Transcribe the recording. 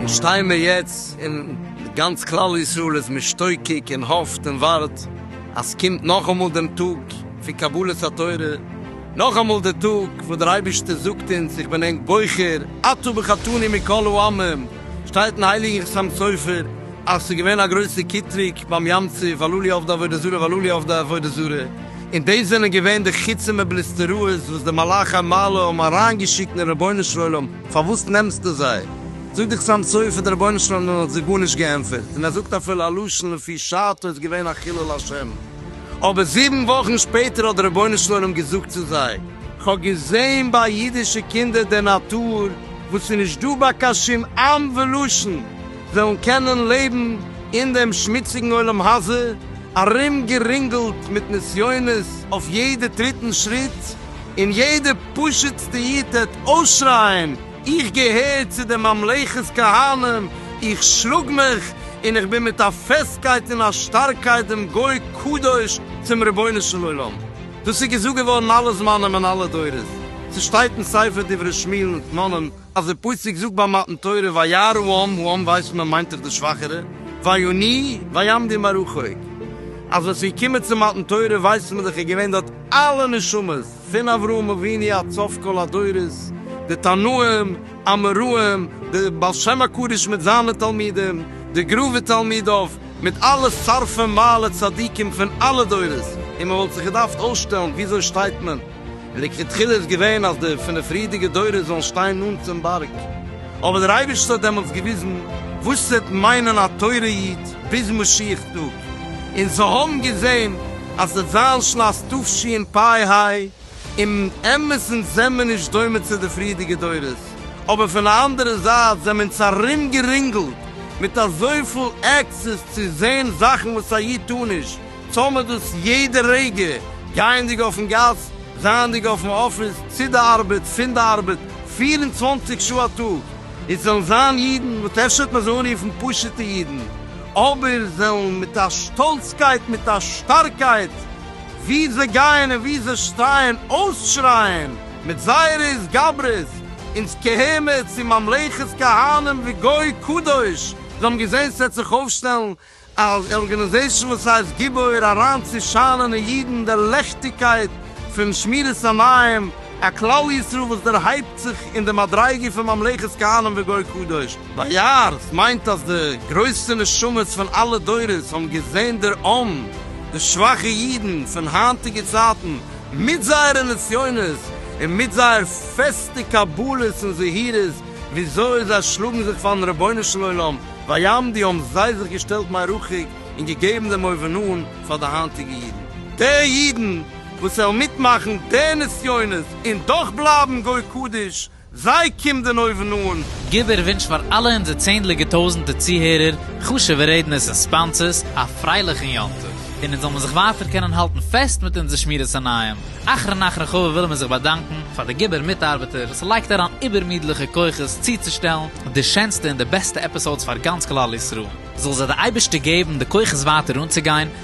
שטיי מיר יעצט און גאנץ כלל ישראל איז משתוקק און האפט און ווארט אז קומט נאכאמאל דעם טאג פון קבלת התורה, נאכאמאל די טאג וואס דער אייבערשטער זאגט אונז איך בין ענק בוחר אתה בחרתני מכל העמים, שטייט אין הייליגן חתם סופר אז ס'איז געווען א גרויסע קיטרוג ביים ים צו ואלולי עובדי עבודה זרה ואלולי עובדי עבודה זרה, און דאס זענען געווען די חיצים ובליסטראות וואס די מלאכי מעלה האבן אריינגעשיקט אין רבונו של עולם, פארוואס נעמסטו זיי? זאגט דער חתם סופר דער רבונו של עולם האט זיי גארנישט געענטפערט, און ער זאגט אפילו א לשון לפי שעתו איז געווען א חילול השם. אבער זיבן וואכן שפעטער האט דער רבונו של עולם געזאגט צו זיי, כ'האב געזען ביי אידישע קינדער די נאטור וואס איז נישט דא ביי קיין שום עם ולשון, וועלן קענען לעבן אין דעם שמוציגן עולם הזה, ארום גערינגלט מיט נסיונות אויף יעדע טריט און שריט, און יעדע פשוט'סטע איד טעט אויסשרייען, איך געהער צו די ממלכת כהנים, איך שלאג מיך און איך בין מיט א פעסטקייט און א שטארקייט דעם גוי קדוש צום רבונו של עולם. דאס איז געזאגט געווארן אלע זמנים און אלע דורות. ס'שטייט אין ספר דברי שמואל אין תננים אז דער פסוק זאגט ביי מתן תורה וירא העם, העם ווייסט מען מיינט דאך די שוואכערע, ויוני ויעמדי מרחוק. אז ווען ס'איז געקומען צו מתן תורה ווייסט מען דאך איז געווען דארט אלע נשמות. פון אברהם אבינו עד סוף כל הדורות, די תנאים, אמוראים, די בעל שם הקדוש מיט זיינע תלמידים, די גרא ותלמידיו, מיט אלע שרפי מעלה צדיקים פון אלע דורות, און מען וואלט זיך געדארפט אויסשטעלן וויאזוי שטייט מען, און לכתחילה איז געווען אז די פון די פריערדיגע דורות זאלן שטיין נאנט צום בארג, אבער דער אייבערשטער האט דעמאלטס געוויזן וואס ס'וועט מיינען א תורה איד ביז משיח טאג. און זיי האבן געזען אז די זיין שלאס תבשין פאי היי, און אמת'ן זעמער נישט דומה צו די פריערדיגע דורות, אבער פון א אנדערע זייט זעמער אונז ארום גערינגלט מיט אזויפיל עקסעס צו זען זאכן וואס א איד טאר נישט, טאר מען דאס יעדע רגע, גייענדיג אויפן גאס, זייענדיג אויפן אפיס, צו די ארבעט, פון די ארבעט, פֿיר און צוואַנציק שעה א טאג, און ס'זענען זיין אידן וואס אפשר וועט מען זיי אנרופן פשוטע אידן, אבער וועלן מיט א שטאלצקייט, מיט א שטארקייט, ווי זיי גייען און ווי זיי שטייען, אויסשרייען מיט זייערע התגברות, אונז קהמר צו ממלכת כהנים וגוי קדוש! זיי האבן געזען ס'וועט זיך אויפשטעלן א ארגאניזעישאן וואס הייסט גיבור, אריין צו שיינען אין אידן די לעכטיגקייט פון שמירת המים, א כלל ישראל וואס דערהייבט זיך אין די מדריגה פון ממלכת כהנים וגוי קדוש. באיאר, עס מיינט אז די גרויסע נשמות פון אלע דורות האבן געזען דער עם, די שוואכע אידן פון היינטיגע צייטן, מיט זייערע נסיונות און מיט זייער פעסטע קבלות און זהירות, וויאזוי זיי שלאגן זיך פארן רבונו של עולם, ביים די האבן זיי זיך געשטעלט מרחוק און געגעבן דעם אויבנאן פאר די היינטיגע אידן. די אידן וואס וועלן מיטמאכן די נסיונות און דאך בלייבן גוי קדוש זיי קומט דען אויבן אן? גיב איר ווינטש פאר אלע אונזער צענדליגע טויזענטע צוהערער, חשובע רעדנערס און ספאנסערס, א פרייליכן יום טוב, און אונז זאל מיר זיך ווייטער קענען האלטן פעסט מיט אונזער שמירת עיניים. אחרון אחרון חביב ווילן מיר זיך באדאנקן פאר די גיבור מיטארבעטער וואס לייגט אריין איבערמידליכע כוחות צוצושטעלן די שענסטע און די בעסטע עפיסאודס פאר גאנץ כלל ישראל. זאל זיי די אייבערשטער געבן די כוחות ווייטער אנצוגיין.